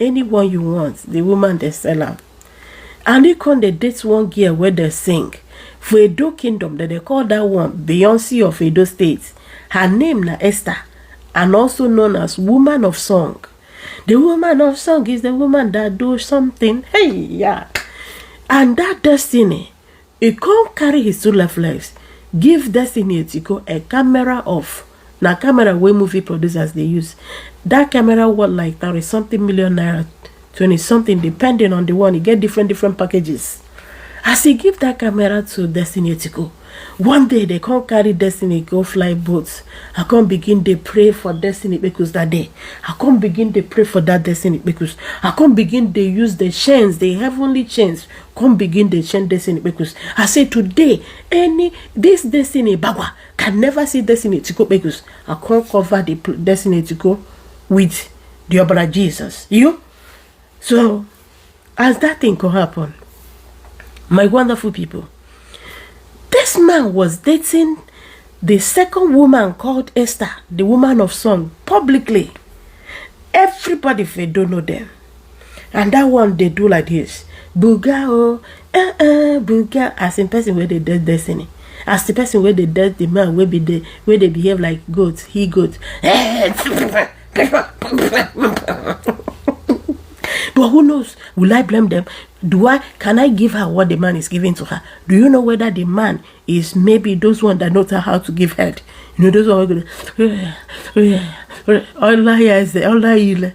anyone you want the woman dey sell am and he come dey date one girl wey dey sing for edo kingdom dem dey call that one beyonce of edo state her name na esther and also known as woman of song the woman of song is the woman that do something hey yeah and that destiny He come carry his two left legs give Destiny Etiko a camera of na camera wey movie producers dey use. That camera worth like thirty something million naira, twenty something depending on the one. E get different different packages. As he give that camera to Destiny Etiko, one day they come carry Destiny go fly boat. I come begin dey pray for Destiny Kpekus that day. I come begin dey pray for that Destiny Kpekus. I come begin dey use the chains, the heavenly chains come begin dey send destiny kpekus i say today any this destiny bagua can never see destiny tiko kpekus i come cover the pl- destiny tiko with the obra jesus you so as that thing come happen my wonderful people this man was dating the second woman called esther the woman of song publicly everybody fit don't know them and that one dey do like this buga oh eh eh buga as in person wey dey dead destiny as the person wey dey dead the man wey be dey wey dey behave like goat he goat eh but who knows will i blame them do i can i give her what the man is giving to her do you know whether the man is maybe those one that knows how to give head you know those one wey go dey all i hear is the all i hear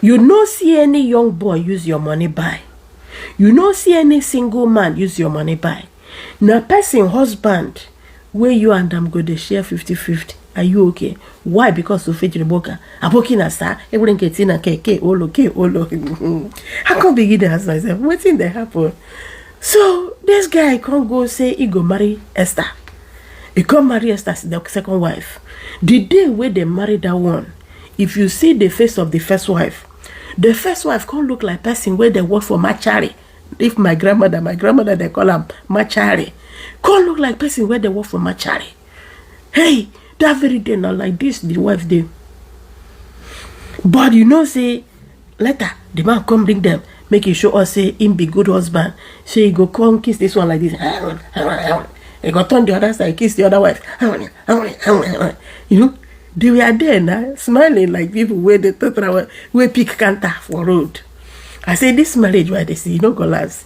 You no see any young boy use your money buy. You no see any single man use your money buy. Na person husband wey you and am go dey share 50-50. Are you okay? Why? Because you fit Reboka. Aboki na sa, everything get in a KK, olo, K, olo. I can't begin to ask myself, what thing that happened? So, this guy can't go say he go marry Esther. He come marry Esther, the second wife. The day where they marry that one, if you see the face of the first wife the first wife come look like person wey dey work for machari if my grandmother my grandmother dey call am machari come look like person wey dey work for machari hey that very day na like this the wife dey but you know say later the man come bring them, make he show us say him be good husband so he go come kiss this one like this he go turn the other side kiss the other wife you know they were there na smiling like people wey dey total wey pick counter for road i say this marriage wey i dey see e no go last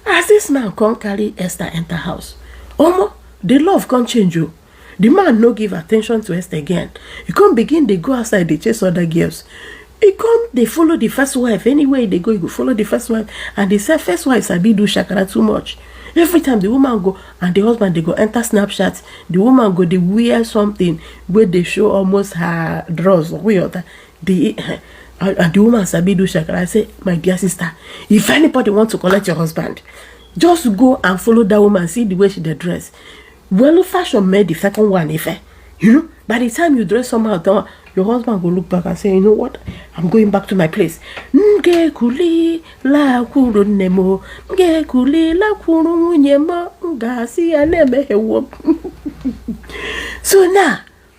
as this man come carry esther enter house omo the love come change o oh. the man no give attention to esther again He come begin dey go outside dey chase other girls He come dey follow the first wife anywhere e dey go e go follow the first wife and the se- first wife sabi do shakara too much every time the woman go and the husband dey go enter snapchat the woman go dey wear something wey dey show almost her drawers or wey other the and and the woman sabi do shakara i say my dear sister if anybody want to collect your husband just go and follow that woman see the way she dey dress Well, old fashion made the second one, if eh, you know, by the time you dress somehow, down, your husband will look back and say, you know what, I'm going back to my place. Nge kuli la kuru nemo, nge kuli la kuru nyema, nga si aneme hewo. So now,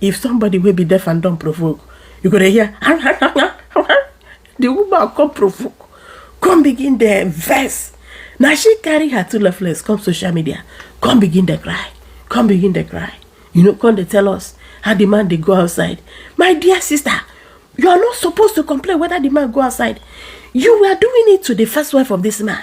if somebody wey be deaf and don provoke you go dey hear the woman come provoke come begin dey vex na she carry her two left legs come social media come begin dey cry come begin dey cry you know come dey tell us how the man dey go outside my dear sister you are not supposed to complain whether the man go outside you were doing it to the first wife of this man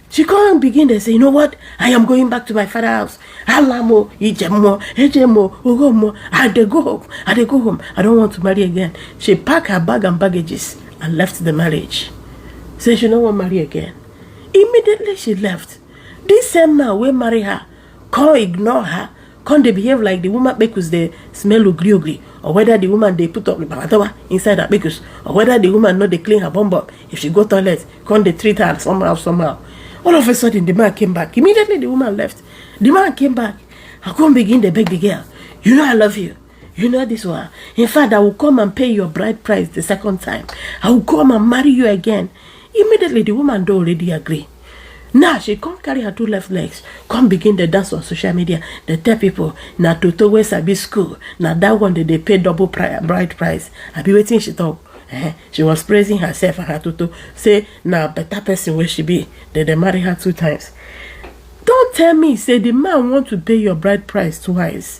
She come begin dey say, you know what? I am going back to my father house. Alamo, Ijemo, Ejemo, Ogomo. I dey go home. I dey go home. I don't want to marry again. She pack her bag and baggages and left the marriage. Say she no wan marry again. Immediately she left. This same man wey marry her come ignore her come dey behave like the woman kpekus dey smell ogri ogri or whether the woman dey put up babatawa inside her kpekus or whether the woman no dey clean her bum bum if she go toilet come dey treat her somehow somehow all of a sudden the man came back immediately the woman left the man came back i come begin dey beg the girl you know i love you You know this one. In fact, I will come and pay your bride price the second time. I will come and marry you again. Immediately, the woman do already agree. Now she come carry her two left legs, come begin the dance on social media. They tell people na Toto wey sabi school, na that one that they pay double pri bride price. I be waiting she talk. Eh, she was praising herself and her Toto. Say na better person where she be. Then they marry her two times. Don't tell me say the man want to pay your bride price twice.